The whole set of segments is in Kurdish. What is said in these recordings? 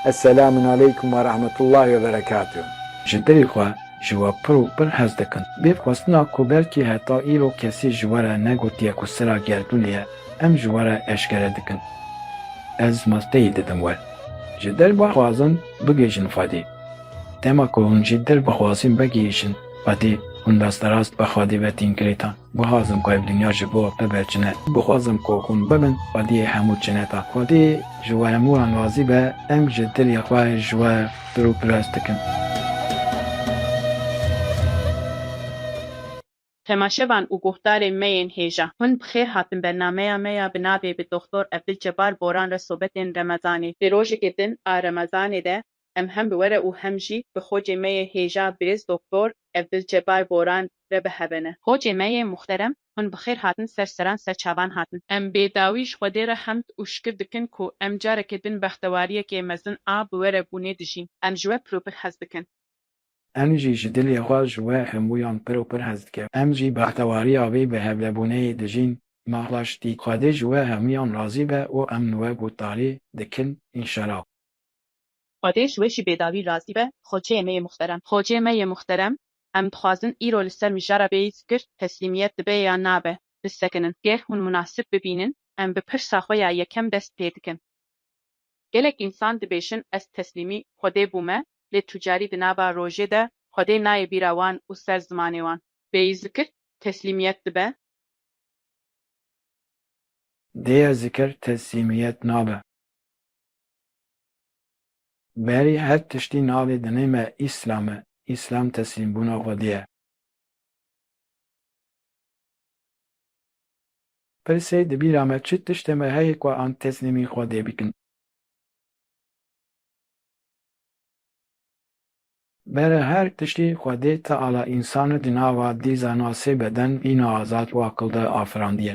Eselamun aleykum ve rahmetullahi ve berekatuh. Ji dilê xwe ji we pir û pir hez dikim. Bê xwestina ku belkî heta îro kesî ji we re negotiye ku sira gerdûnê ye, em ji we re eşkere dikin. Ez malteyî didim we. Ji dil bixwazin bigihîjin Xwedê. Dema ku hûn ji dil bixwazin vegihîjin Xwedê, hûn rasterast bi Xwedê ve tîn girêdan. Guhazim ku ev dinya ji bo bibe çine. Guhazim ku hûn bibin xwediyê hemû çineta. Xwedî ji we hemû wan razî be, em ji dilê xwe ji we pir û pirs dikin. Temaşevan û guhdarên me yên hêja. Hûn bi xêr hatin bernameya me ya bi navê Bi Doxtor Ebdulcebar Boran re sobetên Remezanê. Di rojekê din a Remezanê de Em hem bi were û hem jî bi xocê me yê hêja Birêz Doktor Evdilcebar Boran re bi heve ne. Xocê me yê muxterem hûn bi xêr hatin ser seran ser çavan hatin. Em bê dawî ji Xwedê re hemd û şikir dikin ku em carekê din bextewariyekê mezin a bi were bûnê dijîn. Em ji we pir û pir hez dikin. Em jî ji dilê xwe ji we hemûyan pir û pir hez dikin. Em jî bextewariya vê bi hevlebûneyê dijîn. Ma raştî Xwedê ji we hemûyan razî be û em li we gotdarî dikin înşela. Xwedê ji we jî bêdawî razî be Xoçeyê me yê muxterem. Xoçeyê me yê muxterem, em dixwazin îro li ser mijara bêyî fikir, teslîmiyet dibe yan nabe, bisekinin. Ger hûn munasib bibînin, em bi pirsa xwe ya yekem dest pê dikin. Gelek însan dibêjin ez teslîmî Xwedê bûme, lê tu carî di nava rojê de Xwedê nayê bîra wan û ser zimanê wan. Bêyî zikir, teslîmiyet dibe. Dêya zikir, teslîmiyet nabe. Berî her tiştî navê dinê me Îslam e. Îslam teslîmbûna xwedî ye. Pirsê di bîra me çi tiştê me heye ku an teslîmî xwedê bikin. Bere her tiştî xwedê Teala însani di nava dîzana sê beden, bîna azad û aqilde afirandiye.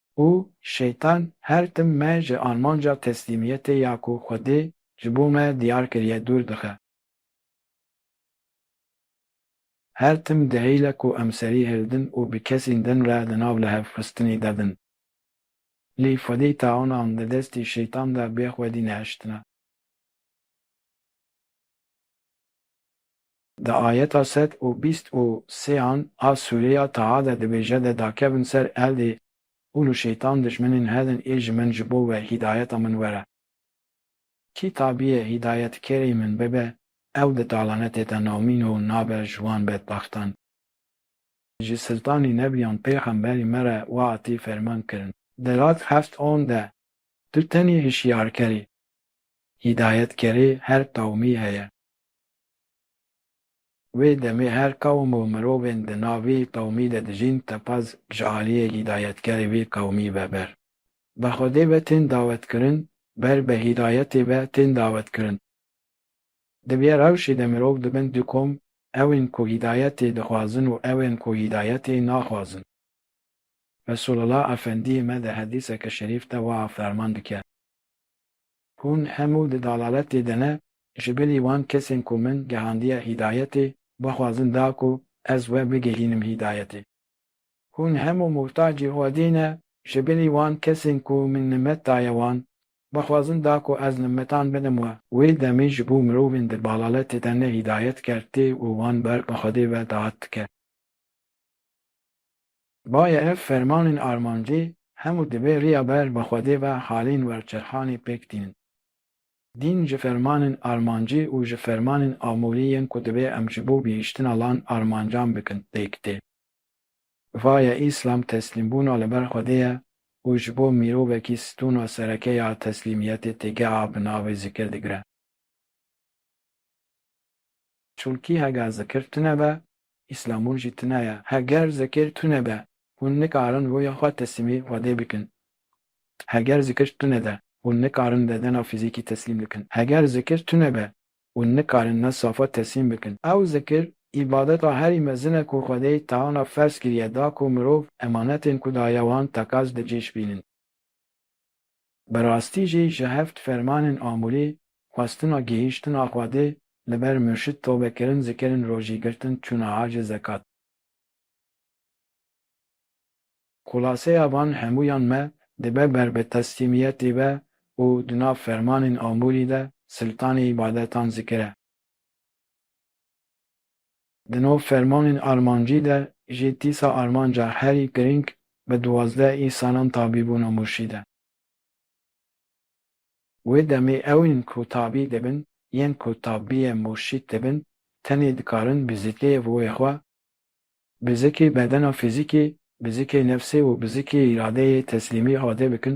û Şeytan her tim me ji armanca teslîmiyetê ya ku Xwedê ji bo me diyar kiriye dûr dixe. Her tim dehîle ku em serî hildin û bi kesîn din re di nav lihevxistinî de bin. Lî Xwedî tawanan di destî Şeytan de bê Xwedî nehiştine. Di ayeta sed û bîst û sêan a sûrê ya Taha de dibêje de dakevin ser eldê hûn û şeytan dijminên hedin ê ji min ji bo we hîdayeta min were. Kî tabiyê hîdayetkerê min bibe ew di talanetê de nomîn û nabe ji wan bedbaxtan. Ji siltanî nebiyan pêxemberî me re wa atî ferman kirin. Di rad heft on de tu tenê hişyarker î. Hîdayetkerê her qewmî heye. Wê demê her qewm û mirovên di nav vê qewmî de dijîn teqez ji aliyê hîdayetkerê vê qewmî ve ber. Bi Xwedê ve tên dawetkirin, ber bi hîdayetê ve tên dawetkirin. Di vê rewşê de mirov dibin du kom, ew ên ku hîdayetê dixwazin û ew ên ku hîdayetê naxwazin. Resulullah Efendiyê me di hedîseke şerîf de wiha ferman dike. Hûn hemû di dalaletê de ne, ji bilî wan kesên ku min gehandiye hîdayetê, bixwazin da ku ez we bigihînim hîdayetê. Hûn hemû muhtacî Xwedê ne, ji bilî wan kesên ku min nimet daye wan, bixwazin da ku ez nimetan bidim we. Wê demê ji bo mirovên di balaletê de ne hîdayet kertê û wan ber bi Xwedê ve dahat dike. Baye ev fermanên armancî hemû divê riya ber bi Xwedê ve halên werçerxanê pêk tînin. Dîn ji fermanên armancî û ji fermanên amûrî yên ku divê em ji bo gihîştina lan armancan bikin pêk tê. Vaye Îslam teslîmbûna li ber Xwedê ye û ji bo mîrovekî stûna sereke ya teslîmiyetê têgeha bi navê zikir digire. Çulkî hega zikir tune be, îslamûn jî tune ye. Heger zikir tune be, hûn nikarin rûya xwe teslîmî Xwedê bikin. Heger zikir tune de, hûn nikarin bedena fîzîkî teslîm bikin. Heger zikir tune be, hûn nikarin ne safa teslîm bikin. Ew zikir, îbadeta herî mezin e ku Xwedê teana ferz kiriye da ku mirov emanetên ku daye wan tekaz bi cî şibînin. Bi rastî jî ji heft fermanên amûrî xwestina gihîştina Xwedê li ber murşid tobekirin zikirin rojî girtin çûna hacê zekat. Xulaseya van hemûyan me dibe ber bi teslîmiyetî ve û di nav fermanên amûrî de siltanê îbadetan zikire. Di nav fermanên armancî de jî tîsa armanca herî girîng bi duwazdeh î salan tabî bûna murşîd e. Wê demê ew ên ku tabî dibin yên ku tabîye murşîd dibin tenê dikarin bi zikê û wê xwe, bi zikê bedena fîzîkê, bi zikê nefsê û bi zikê îradeyê teslîmî ade bikin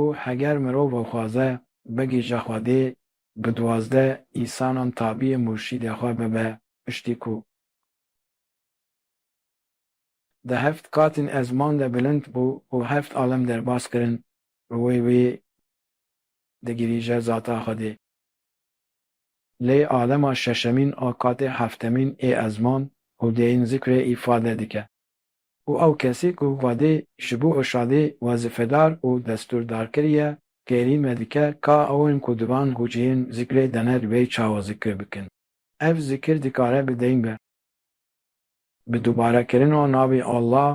Û heger mirov xwaze bigihîje Xwedê, bi duwazdeh îsanan tabîyê murşîdê xwe bibe, piştî ku. Di heft qatên ezman de bilind bû û heft alem derbas kirin, bi wê wê digihîje zata Xwedê. Lê alema şeşemîn a qatê heftemîn ê ezman û dêyîn zikrê îfade dike. û ew kesî ku Xwedê ji bo Irşadê wezîfedar û destûrdar kiriye, kêrî me dike ka ewên ku di van huciyên zikrê de ne di wê çawa zikir bikin. Ev zikir dikare bi deyn be. Bi dubarekirina navê Allah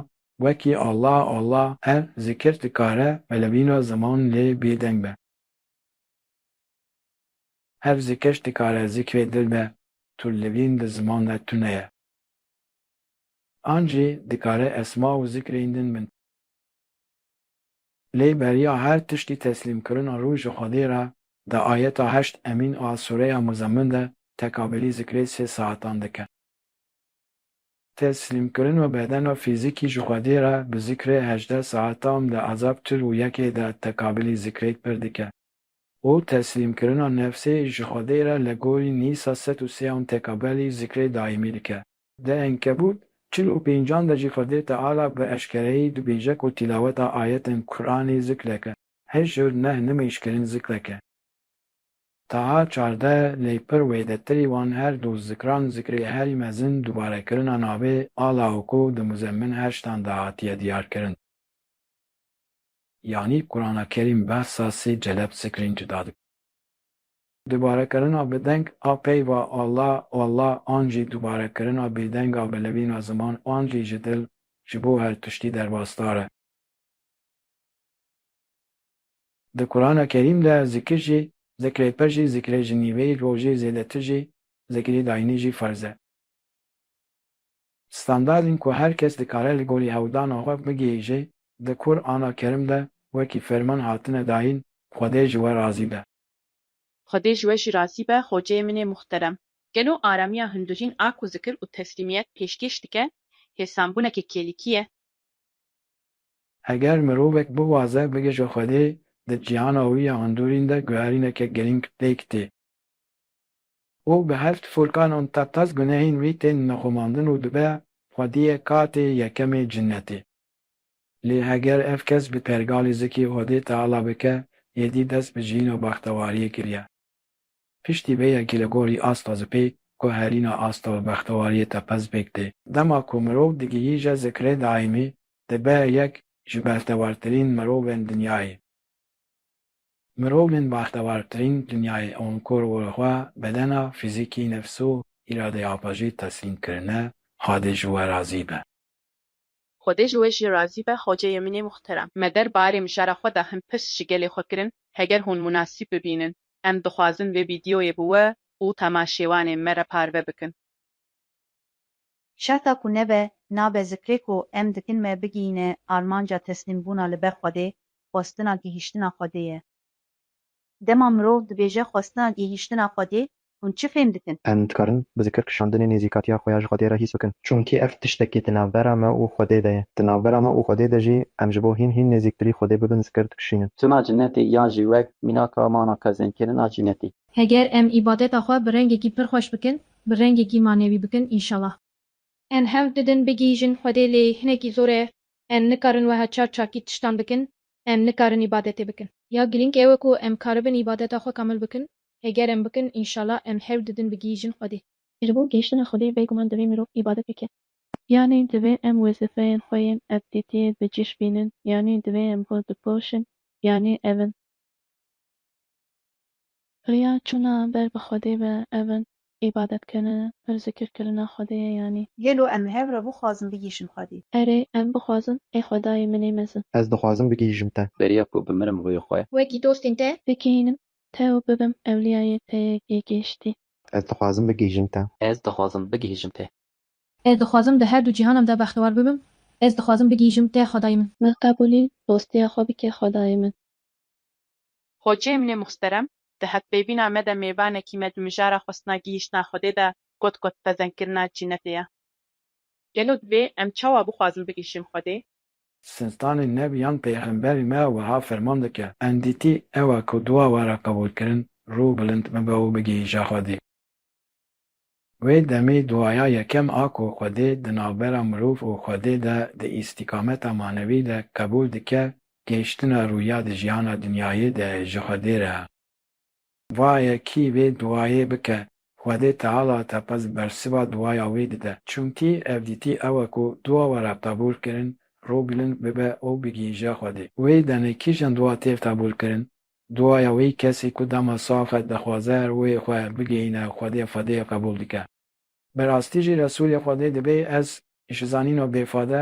wekî Allah Allah ev zikir dikare velebîna ziman lê bêdeng be. Ev zikir dikare zikrê dil be, tu li vîn di ziman de tune ye. An jî dikare esma û zikrên din bin. Lê beriya her tiştî teslîmkirina rû ji Xwedê re di ayeta heşt emîn a sûreya Muzemmin de tekabelî zikrê sê saetan dike. Teslîmkirina bedena fîzîkî ji Xwedê re bi zikrê hejdeh saetam di ezab çil û yekê de tekabelî zikrê pir dike û teslîmkirina nefsê ji Xwedê re li gorî nîsa sed û sêan tekabelî zikrê daîmî dike. Di Enkebût çil û pêncan de jî Xwedê Teala bi eşkereyî dibêje ku tîlaweta ayetên Quranê zikrek e, hijr neh nimêjkirin zikrek e. Taha çardeh lê pir wêdetirî wan her du zikran zikrê herî mezin dubarekirina navê Ala û ku di Muzemmin heştan de hatiye diyarkirin. Yanî Qurana Kerîm behsa sê celeb zikrên cuda dike. Dubarekirina bi deng a peyva Alla, Oalla an jî dubarekirina bêdeng a bi levîna ziman an jî ji dil ji bo her tiştî derbasdar e. Di Kurana Kerîm de zikir jî, zikrê pir jî, zikrê ji nîveyî rojê zêdetir jî, zikrê dayînî jî ferz e. Standardên ku her kes dikare li gorî hewldana xwe bigihîje di Kur ana Kerim de wekî ferman hatine dayîn, Xwedê ji we razî be. Xwedê ji we jî razî be xoceyê min ê muxterem. Gelo aramiya hundirîn a ku zikir û teslîmiyet pêşkêş dike hêsanbûneke kêlîkî ye? Eger mirovek biwaze bige ji Xwedê, di cîhana wî ya hundirîn de guherîneke girîng pêk tê û bi heft furkan û tepez gunehên wî tên nexumandin û dibe Xwediyê katê yekemê cinnetê. Lê eger ev kes bi pergalî zikê Odê Teala bike, êdî dest bi jiyîn û bextewariyê kiriye. Piştî vê yekî li gorî asta zipê ku herîna asta û bextewariyê tepe zipêk tê. Dema ku mirov digihîje zikrê daîmî, dibe yek ji bextewartirîn mirovên dinyayê. Mirovên baxtewartirîn dinyayê ûn ku li xwe, bedena, fîzîkî, nefs û îradeya xwe jî teslîm kirine, Xwedê ji we razî be. Xwedê ji we jî razî be hoceyê min ê muhterem. Me der barê mijara xwe de hin pirs ji gelê xwe kirin, heger hûn munasîb bibînin, em dixwazin vê vîdyoyê bi we û temaşêwanên me re parve bikin. Şerta ku nebe, nabe zikrê ku em dikin me bigihîne armanca teslîmbûna li ber Xwedê, xwestina gihîştina Xwedê ye. Dema mirov dibêje xwestina gihîştina Xwedê, hûn çi fêm dikin? Em dikarin bi zikir kişandinê nêzîkatiya xwe ya ji Xwedê re hîs bikin. Çunkî ev tiştekî di navbera me û Xwedê de ye. Di navbera me û Xwedê de jî em ji bo hîn hîn nêzîktirî Xwedê bibin zikir dikişînin. Tuna cinetê ya jî wek mînaka mana qezenkirina cinetî. Heger em îbadeta xwe bi rengekî pir xweş bikin, bi rengekî manewî bikin înşallah. Em hewl didin bigihîjin Xwedê lê hinekî zor e, em nikarin weha çar çakî tiştan bikin, em nikarin îbadetê bikin. Ya girîng ew e ku em karibin îbadeta xwe kamil bikin, heger em bikin înşala em hewl didin bigihîjin Xwedê. Ji bo gihîştina Xwedê bêguman divê mirov îbadet bike. Yanî divê em wezîfeyên xwe yên evdîtiyê bi cîş bînin, yanî divê em xwe bipoşin, yanî ev in. Riya çûna ber bi Xwedê be ev in, îbadetkirin, pir zikir kirina Xwedê ye yanî. Gelo em li hev re bixwazin bigihîşin Xwedê? Erê, em bixwazin, ê Xwedayê min ê mezin. Ez dixwazim bigihîşim te. Beriya ku bimirim rûyê xwe. Wekî dostên te. Bigihînim te û bibim ewliyayê te yê gihîştî. Ez dixwazim bigihîşim te. Ez dixwazim bigihîşim te. Ez dixwazim di her du cîhanan de bextewar bibim. Ez dixwazim bigihîşim te Xwedayê min. Min qebûlî dostiya xwe bike Xwedayê min. Hoceyê min ê muxterem di hevpeyvîna me de mêvanekî me di mijara xwestina gihîştina Xwedê de got ku dipezendkirina cînetê ye. Gelo divê em çawa bixwazin bigihîşin Xwedê? Siltanê Neb yan Peyxemberê me wiha ferman dike, Endîtî ew e ku dua were qebûlkirin, rû bilind bibe û bigihîje Xwedê. Wê demê duaya yekem a ku Xwedê di navbera mirov û Xwedê de di îstîkameta manevî de qebûl dike gêştina rûya di jiyana dinyayê de ji Xwedê re. Vaye kî vê duayê bike, Xwedê Teala teqez bersiva duaya wê dide. Çimkî evdîtî ew e ku dua we re qebûl kirin, rû bilind bibe û bigihîje Xwedê. Wê demê kîjan dua têv qebûl kirin? Duaya wî kesî ku dema sax e dixwaze rûyê xwe bigihîne Xwedê Xwedê qebûl dike. Bi rastî jî Resûlê Xwedê dibê ez ji zanîno bêfade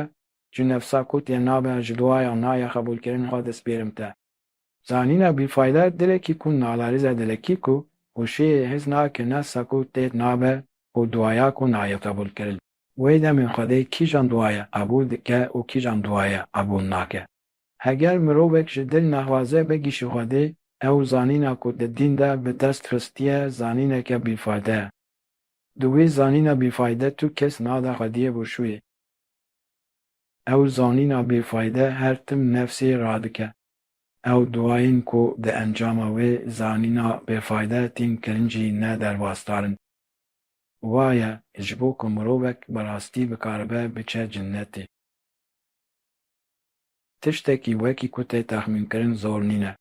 ji nefsa ku tê nabe ji duaya naya qebûlkirin xwe dispêrim te. Zanîna bîfayde dilekî ku nalerîze dilekî ku û şêrê hez nake nefsa ku tê nabe û duaya ku nayê qebûlkirin. Wê demê Xwedê kîjan duaya qebûl dike û kîjan duaya qebûl nake. Heger mirovek ji dil naxwaze bigîşi Xwedê, ew zanîna ku di dîn de bi dest xistiye zanîneke bîfayde ye. Di wî zanîna bîfayde tu kes nade Xwediyê bûşûyê. Ew zanîna bîfayde her tim nefsê radike. Ew duayên ku di encama wê zanîna bêfayde tîn kirin jî ne derbasdar in. Wa ye ji bo ku mirovek bi rastî bikaribe biçe cinnetê. Tiştekî wekî ku tê texmînkirin zor nîne.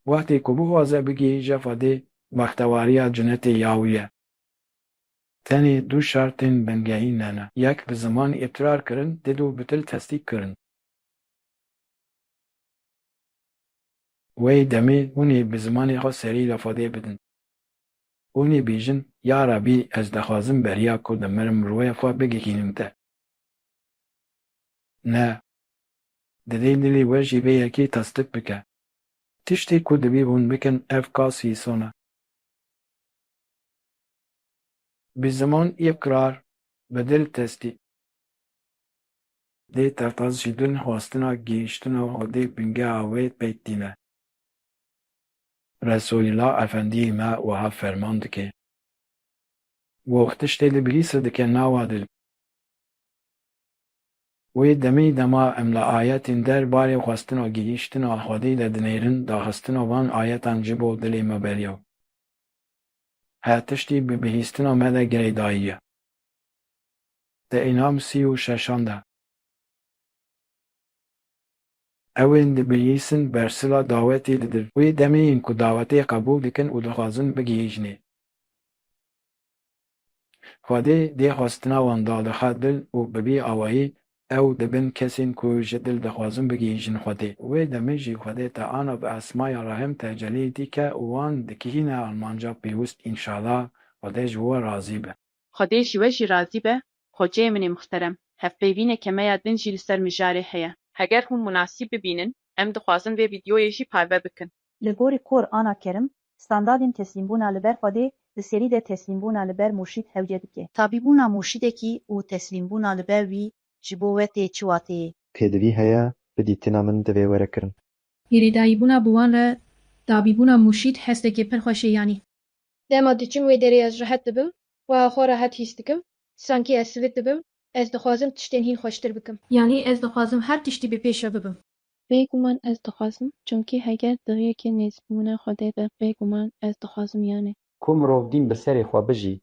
Wextê ku bixwaze bigihîje xwedê bextewariya cinetê ya wî ye. Tenê du şertên bingehîn hene, yek bi zimanî îqrar kirin dê du bi dil tesdîk kirin. Wê demê hûn ê bi zimanê xwe serî li xwedê bidin. Hûn ê bêjin, Ya Rebî ez dixwazim beriya ku dimirim rûyê xwe bigihînim te. Ne. Divê dilê we jî vê yekê tasdik bike. Tiştê ku divê hûn bikin ev ka sîson e. Bi ziman îqrar, bi dil tesdî. Dê tertas ji din xwestina gihîştina hodê bingeha wê pêk tîne. Resoîla Efendîyê me wiha ferman dike. Goh tiştê li bilîse dike nawa dil. Wê demê dema em li ayetên der barê xwestina gihîştina Xwedê de dinêrin, daxistina van ayetan ji bo dilê me beriya her tiştî bi bihîstina me de girêdayî ye. Di Înam sî û şeşan de. Ew ên dibihîsin bersila dawetê didin. Wê demê yên ku dawetê qebûl dikin û dixwazin bigihîjnê. Xwedê dê xwestina wan dalixe dil û bi vî awayî ew dibin kesên ku ji dil dixwazin bigihîjin Xwedê. Wê demê jî Xwedê te ana bi esmaya rehm tecelî dike û wan dikihîne armanca pêwist înşala Xwedê ji we razî be. Xwedê ji we jî razî be Xweceyê min ê mixterem. Hevpeyvînê kemeya din jî li ser mijarê heye. Heger hûn munasîb bibînin em dixwazin vê vîdyoyê jî parve bikin. Li gorî Qur ana Kerim, standadên teslîmbûna li ber Xwedê di serî de teslîmbûna li ber murşîd hewce dike. Tabî bûna murşîdekî û teslîmbûna li ber wî ji bo we tê çi wateyê ye? Pêdivî heye, bi dîtina min divê were kirin. Hêrêdayîbûna bi wan re tabî bûna murşîd hestekê pir xweş ê yanî. Dema diçim wê derê ez rehet dibim, wiha xwe rehet hîs dikim, sankî ez sivit dibim, ez dixwazim tiştên hîn xweştir bikim. Yanî ez dixwazim her tiştî bi pêş re bibim. Bêguman ez dixwazim, çimkî heger di riyekê nêzîkbûna Xwedê be bêguman ez dixwazim yanê. Ku mirov dîn bi serê xwe bijî,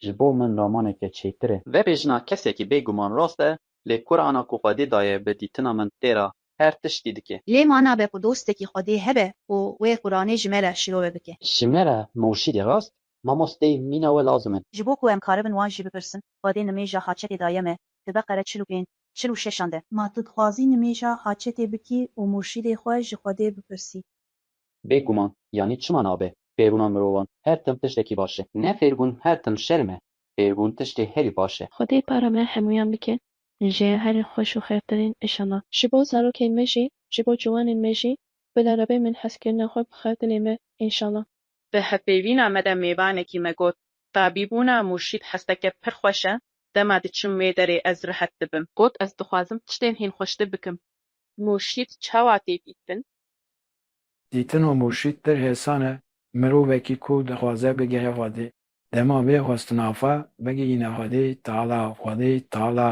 ji bo min romaneke çêtir e. Vebêjina kesekî bêguman rast e, lê Qur'ana ku Xwedê daye bi dîtina min têra her tiştî dike. Lê ma nabe ku dostekî Xwedê hebe ku wê Qur'anê ji me re şirove bike. Ji me re murşîdê rast, mamosteyê mîna we lazim in. Ji bo ku em karibin wan jî bipirsin, Xwedê nimêja haçetê daye me, Ti Beqere çil û pênc. çil û şeşan de. Ma tu dixwazî nimêja haçetê bikî û murşîdê xwe ji Xwedê bipirsî. Bê guman, yanî çima nabe Fêrgûna mirovan her tim tiştekî baş e? Ne Fêrgûn her tim şerm e, Fêrgûn tiştê herî baş e. Xwedê para me hemûyan bike ji herî xweş û xêrtirîn îşallah. Ji bo zarokên me jî, ji bo ciwanên me jî bila rebe min hezkirina xwe bixe dilê me, înşallah. Di hevpeyvîna me de mêvanekî me got, Tabîbûna Murşîd hesteke pir xweş e, dema diçim wê derê ez rihet dibim. Got, Ez dixwazim tiştên hîn xweştir bikim. Murşîd çawa tê dîtin? Dîtina Murşîd pir hêsan e, mirovekî ku dixwaze bigehe Xwedê, dema vê xwestina xwe bigihîne Xwedê Teala, Xwedê Teala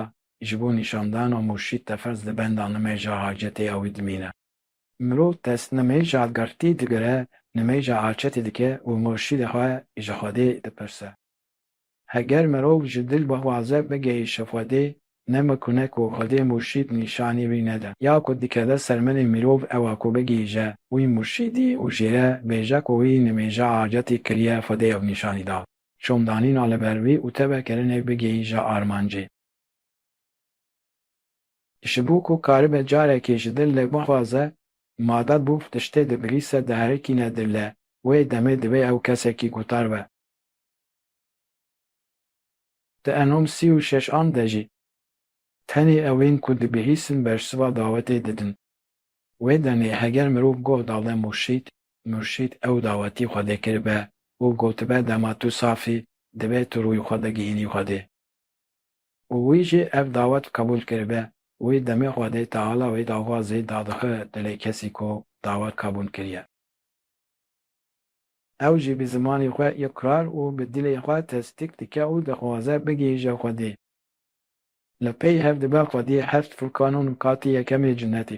ji bo nîşandana Murşîd te ferz di benda nimêja hacetê ew dimîne. Mirov dest nimêja girtî digire, nimêja açetî dike û murşîdê xwe ji Xwedê dipirse. Heger mirov ji dil bixwaze bigihîşe Xwedê, ne mikune ku Xwedê murşîd nîşanî wî nede. Ya ku dikeve ser milê mirov ew a ku bigihîje wî murşîdî û jê re bêje ku wî nimêja acetî kiriye Xwedê ew nîşanî da. Şomdanîna li ber wî û tevekirinê bigihîje armancê. Ji bo ku karibe carekê ji dil lê bixwaze, made bû tiştê digrîse diherikîne dil lê, wê demê divê ew kesekî gutar be. Di enom sî û şeş an de jî tenê ewên ku dibihîsin bersiva dawetê didin. Wê demê heger mirov goh dale murşîd, murşîd ew dawetî Xwedê kiribe û gotibe dema tu saf î, divê tu rûyê xwe bigihînî Xwedê. û wî jî ev dawet qebûl kiribe, wî demê xwe dê Teala wê dava zêd dadixe dilê kesî ku dawet qebûl kiriye. Ew jî bi zimanê xwe îqrar û bi dilê xwe tesdîk dike û dixwaze bigihîje Xwedê. Li pey hev dibe Xwedî heft furkan û nikatê yekemê cinetê.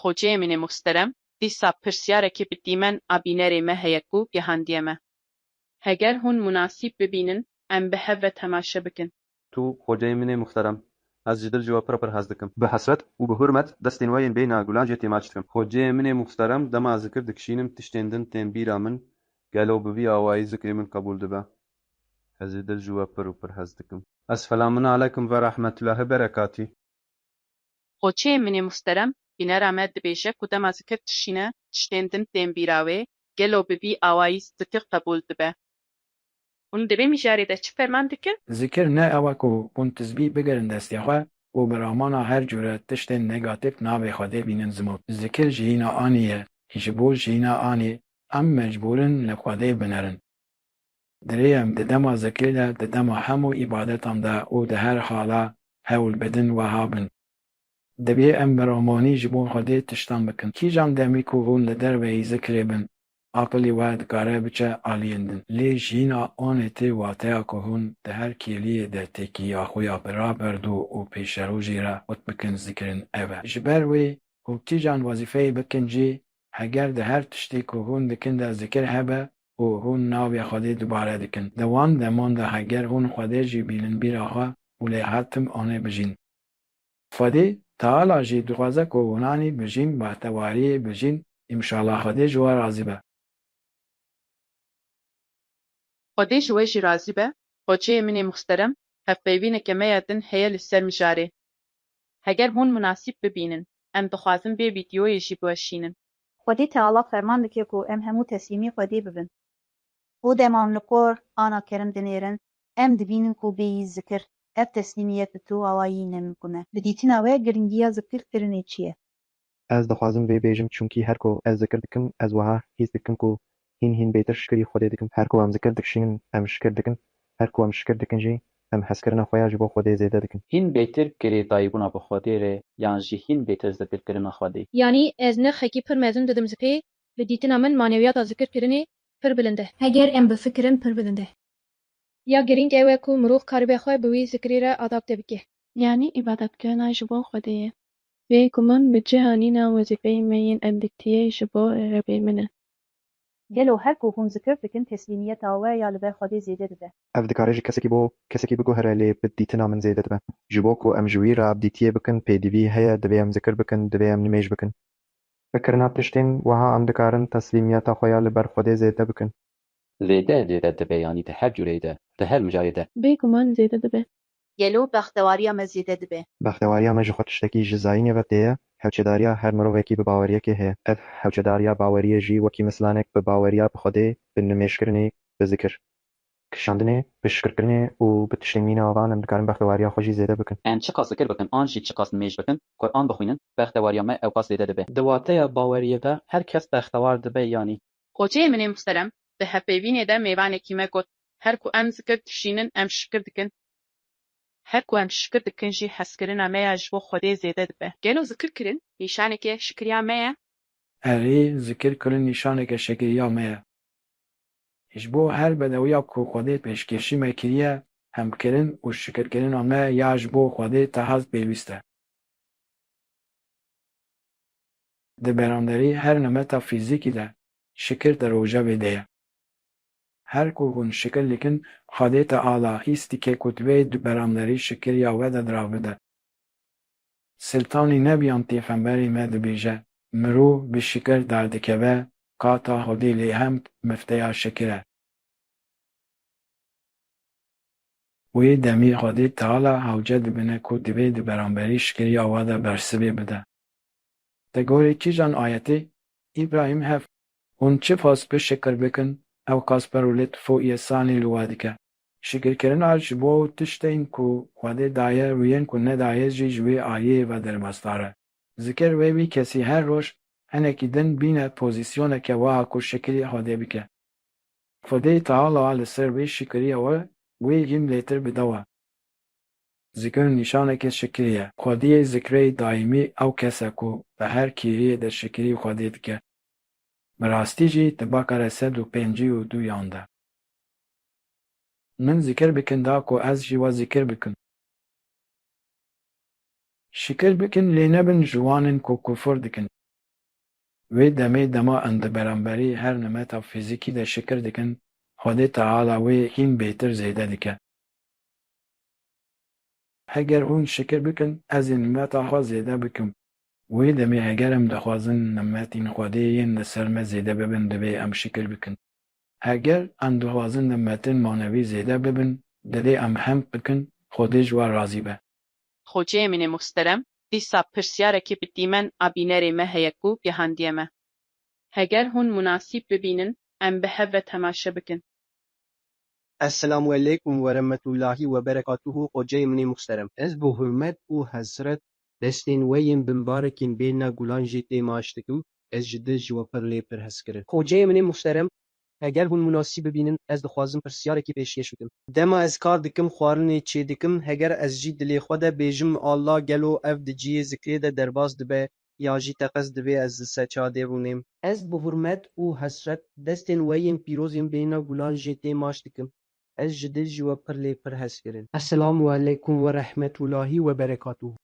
Xocê min ê muhsterem, dîsa pirsiyarekê bi dîmen a bînerê me heye ku gehandiye me. Heger hûn munasîb bibînin em bi hev ve temaşe bikin. Tu xocê min ê muhterem. Ez ji dil ji we pir pir hez dikim. Bi hesret û bi hurmet destên we yên bêyna gulan jê têmaç dikim. Xocê min ê muhterem, dema zikir dikişînim tiştên din tên bîra min, gelo bi vî awayî zikrê min qebûl dibe. Ez ji dil ji we pir û pir hez dikim. Esfelamunalekum ve rahmetullahi berekatî. Xoçeyê min ê musterem bînera me dibêje ku dema zikir dişîne tiştên din tên bîra wê, gelo bi vî awayî zikir qebûl dibe? Hûn di vê mijarê de çi ferman dikin? Zikir ne ew e ku hûn tizbî bigirin destê xwe û bi ramana her cûre tiştên negatîf navê Xwedê bînin zimût. Zikir jiyîna anî ye. Ji bo jiyîna anî em mecbûr in li Xwedê binerin. Dirêyem di dema zikrê de, di dema hemû îbadetan de û di her hala hewl bidin weha bin, Divê em bi ramanî ji bo Xwedê tiştan bikin. Kîjan demî ku hûn li derveyî zikrê bin, aqilî we dikare biçe aliyên din. Lê jîna anê tê wateya ku hûn di her kêliyê de têkiliya xwe ya bi raberdû û pêşerojê re xurt bikin zikirin ev e. Ji ber wê ku kîjan wezîfeyê bikin jî, heger di her tiştê ku hûn dikin de zikir hebe, û hûn navê Xwedê dubare dikin. Di wan deman de heger hûn Xwedê jî bînin bîra xwe û lê her tim anê bijîn. Xwedê Teala jî dixwaze ku hûnanî bijîn, bahtewariyê bijîn, imşala Xwedê ji we razî be. Xwedê ji we jî razî be, Xoçeyê min ê muxsterem, hevpeyvîneke me ya din heye li ser mijarê. Heger hûn munasîb bibînin, em dixwazin vê vîdyoyê jî biweşînin. Xwedî Teala ferman dike ku em hemû teslîmî Xwedê bibin. Û dema em li kor ana kerim dinêrin, em dibînin ku bê yî zikir, ev teslîmiyet bi tu awa yî ne mimkûn e. Bi dîtina we girîngiya zikir kirinê çi ye? Ez dixwazim vê bêjim çunkî her ku ez zikir dikim ez wiha hîs dikim ku Hîn hîn bêtir şikirî Xwedê dikim. Her ku em zikir dikişînin em şikir dikin, her ku em şikir dikin jî em hezkirina xwe ya ji bo Xwedê zêde dikin. Hîn bêtir girêdayîbûna bi Xwedê re yan jî hîn bêtir zikirkirina Xwedê. Yanî ez nirxekî pir mezin didim zikê, bi dîtina min manewiyata zikirkirinê pir bilind e. Heger em bifikirin pir bilind e. Ya girîng ew e ku mirov karibe xwe bi wî zikirî re adapte bike. Yanî îbadetkirina ji bo Xwedê ye. Bê guman bi cihanîna wezîfeyê me yên endîktiyê ji bo Rebê min e. Gelo her ku hûn zikir dikin teslîmiyeta we ya li ber Xwedê zêde dibe? Ev dikare ji kesekî bo kesekî biguhere lê bi dîtina min zêde dibe. Ji bo ku em ji wî re abdîtiyê bikin pêdivî heye divê em zikir bikin, divê em nimêj bikin. Bi kirina tiştên wiha em dikarin teslîmiyeta xwe ya li ber Xwedê zêde bikin. Zêde zêde dibe yanî di her cûreyê de, di her mijayê de. Bê guman zêde dibe. gelo bextewariya me zêde dibe? Bextewariya me ji xwe tiştekî ji zayînê ve tê ye. Hewçedariya her mirovekî bi baweriyekê heye. Ev hewçedariya baweriyê jî wekî mislanek bi baweriya bi xwedê, bi nimêjkirinê, bi zikir kişandinê, bi şikirkirinê û bi tiştên mîna van em dikarin bextewariya xwe jî zêde bikin. Em çiqas zikir bikin an jî çiqas nimêj bikin, Quran bixwînin, bextewariya me ewqas zêde dibe. Di wateya baweriyê de her kes bextewar dibe yanî? Koçeyê min ê muhterem di hevpeyvînê de mêvanekî me got, Her ku em zikir dişînin em şikir dikin, her ku em şikir dikin jî hezkirina me ya ji bo Xwedê zêde dibe. Gelo zikir kirin nîşaneke şikiriya me ye? Erê, zikir kirin nîşaneke şikiriya me ye. Ji bo her bedewiya ku Xwedê pêşkêşî me kiriye, hemkirin û şikirkirina me ya ji bo Xwedê tehez pêwîst e. di beranderî her nemeta fîzîkî de şikir di rojevê de ye. Her ku hûn şikir dikin xwedêta ala hîstîkê ku divê di beranderî şikiriya we de di ra bide. Siltanî Nebiyan pêxemberê me dibêje, Mirov bi şikir derdikeve ka ta hodê lê hemd mifteya şikir e. Wê demî xwedê Teala hewce dibine ku divê di beranberî şikiriya we de bersivê bide. Di gorî kîjan ayetê? Îbrahîm hev. Hûn çi fas bi şikir bikin, ewqas perwlêt fû yê sanî li we dike. Şikirkirina ji bo tiştên ku Xwedê daye û yên ku nedaye jî ji wê aliyê ve derbasdar e. Zikir wê wî kesî her roj hinekî din bîne pozîsyoneke wiha ku şikirî Xwedê bike. Xwedê Teala li ser vê şikirîya we wê hîm lêtir bidawe. Zikir nîşaneke şikirî ye. Xwediyê zikreyî daîmî ew kes e ku bi her kêriyê de şikirî Xwedê dike. Bi rastî jî di bakare sed û pêncî û du yan de. Min zikir bikin da ku ez jî we zikir bikim. Şikir bikin lê nebin ji wan in ku kufur dikin. Wê demê dema in di beramberî her nimeta fîzîkî de şikir dikin, Xwedê Teala wê hîn bêtir zêde dike. Heger hûn şikir bikin, ez ê nimeta xwe zêde bikim. Wê demê heger em dixwazin nimetên Xwedê yên li ser me zêde bibin divê em şikir bikin. Heger em dixwazin nimetên manevî zêde bibin divê em hemd bikin Xwedê ji we razî be. Xocê min ê muhsterem, dîsa pirsiyarekî bi dîmen a bînerê me heye ku gehandiye me. Heger hûn munasîb bibînin em bi hev ve temaşe bikin. Eselamu Eleykum Weremetullahî Weberekatuhu Xoceyê min ê muxterem. Ez bi hurmet û hesret destên we yên bi mbarekên bêhna gulan jê tê maaş dikim, ez ji dil ji we pir lê pir hez kirin. Xoceyê min ê muxterem, heger hûn munasîb bibînin ez dixwazim pirsyarekî pêşkêş bikim. Dema ez kar dikim xwarinê çêdikim heger ez jî dilê xwe de bêjim Allah gelo ev di ciyê zikrê de derbas dibe ya jî teqez divê ez li ser çadê rûnêm. Ez bi hurmet û hesret destên we yên pîroz yên bêhna gulan jê tê maş dikim. Ez ji dil ji we pir lê pir hez kirin. Esselam u aleykum we rehmet u lahi we berekatuhu.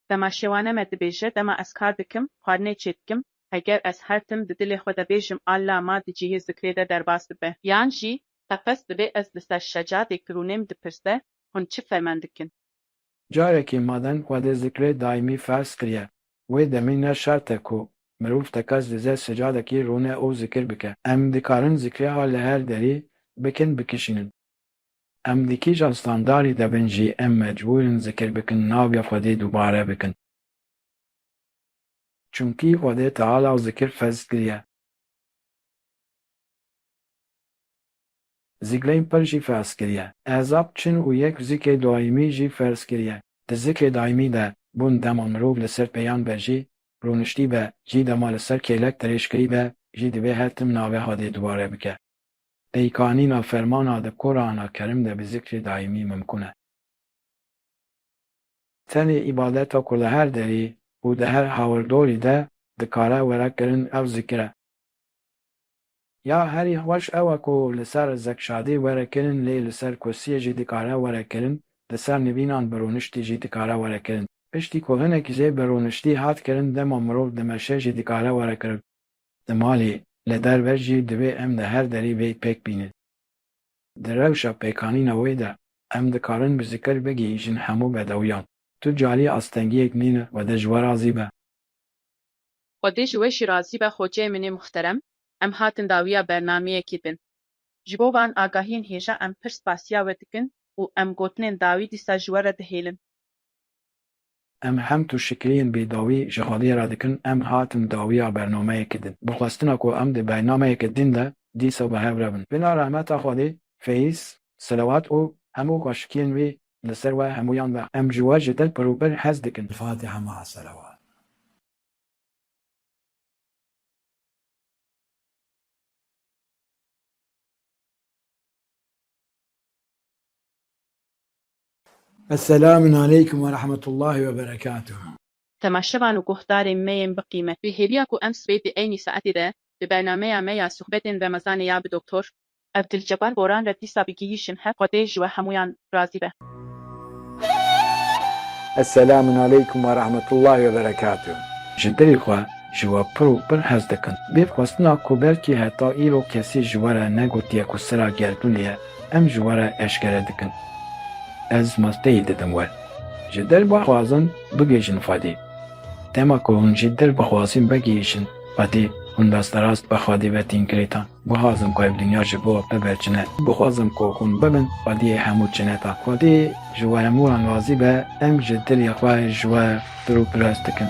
Dema şêwane me dibêje, dema ez kar dikim, xwarinê çêdikim, heger ez her tim di dilê xwe de bêjim Alla ma di cihê zikrê de derbas dibe. Yan jî teqez divê ez li ser şecadê ki rûnêm dipirse, hûn çi ferman dikin? Carekî maden Xwedê zikrê daîmî ferz kiriye, wê demî ne şert e ku mirov tekez dize secadekî rûne û zikir bike. Em dikarin zikrê a li her derî bikin bikişînin. Em di kîjan standarî de bin jî em mecbûr in zikir bikin navê Xwedê dubare bikin. Çimkî Xwedê Teala zikir ferz kiriye. Zikleyn pir jî ferz kiriye. Ezab çin û yek zikê daîmî jî ferz kiriye. Di zikê daîmî de bûn dema mirov li ser pêyan be jî rûniştî be jî dema li ser kêlek dirêj kirî be jî divê her tim navê hadê dubare bike. Peykanîna fermana di Qurana Kerim de bi zikrê daîmî mimkun e. Tenê îbadeta ku li her derî û di her hawirdorî de dikare were kirin ew zikir e. Ya herî xweş ew e ku li ser zekşadî were kirin lê li ser kursiyê jî dikare were kirin, li ser nivînan bi rûniştî jî dikare were kirin. Piştî ku hinek jê bi rûniştî hat kirin dema mirov dimeşe jî dikare were kirin. Di malê, li derve jî divê em li her derî vê pêk bînin. Di rewşa pêkanîna wê de em dikarin bi zikir bigihîjin hemû bedewiyan. Tu carî astengiyek nîne wede ji we razî be. Xwedê ji we jî razî be xoceyê min ê muhterem, em hatin dawiya bernameyekê din. Ji bo van agahiyên hêja em pir spasiya we dikin û em gotinên dawî dîsa ji we re dihêlin. Em hem tu şikliyên bêdawî ji xwedê re dikin, em hatin dawiya bernameyekê din. Bi xwestina ku em di bernameyeke din de dîsa bi hev re bin. Bila rehmeta xwedê, feyz, selewat û hemû xweşikiyên wî li ser we hemûyan be. Em ji we ji dil pir û pir hez dikin. Fatiha maa selewat. Eselamun aleykum ve rahmetullahi ve berekatuhu. Temaşevan û guhdarên me yên bi qîmet. Wê hêviya ku em sibê di eynî saetê de di bernameya me ya suhbetên remezanê ya bi Doktor. Ev dil cepan boran re dîsa bigihîşin hev xwedê ji we hemûyan razî be. Eselamun aleykum we rahmetullahi we berekatuh. Ji dilê xwe ji we pir û pir hez dikim. Bê xwestina ku belkî heta îro kesî ji we re negotiye ku sira gerdûnê ye, em ji we re eşkere dikin. Ez masteyê didim we. Ji dil bixwazin bigihîşin Xwedê. Dema ku hûn ji dil bixwazin vegihîşin Xwedê, hûn rasterast bi Xwedê ve tên girêdan. Guhazim ku ev dinya ji bo bibe çine. Guhazim ku hûn bibin xwediyê hemû çineta. Xwedî ji we hemû wan razî be, em ji dilê xwe ji we piropiras dikin.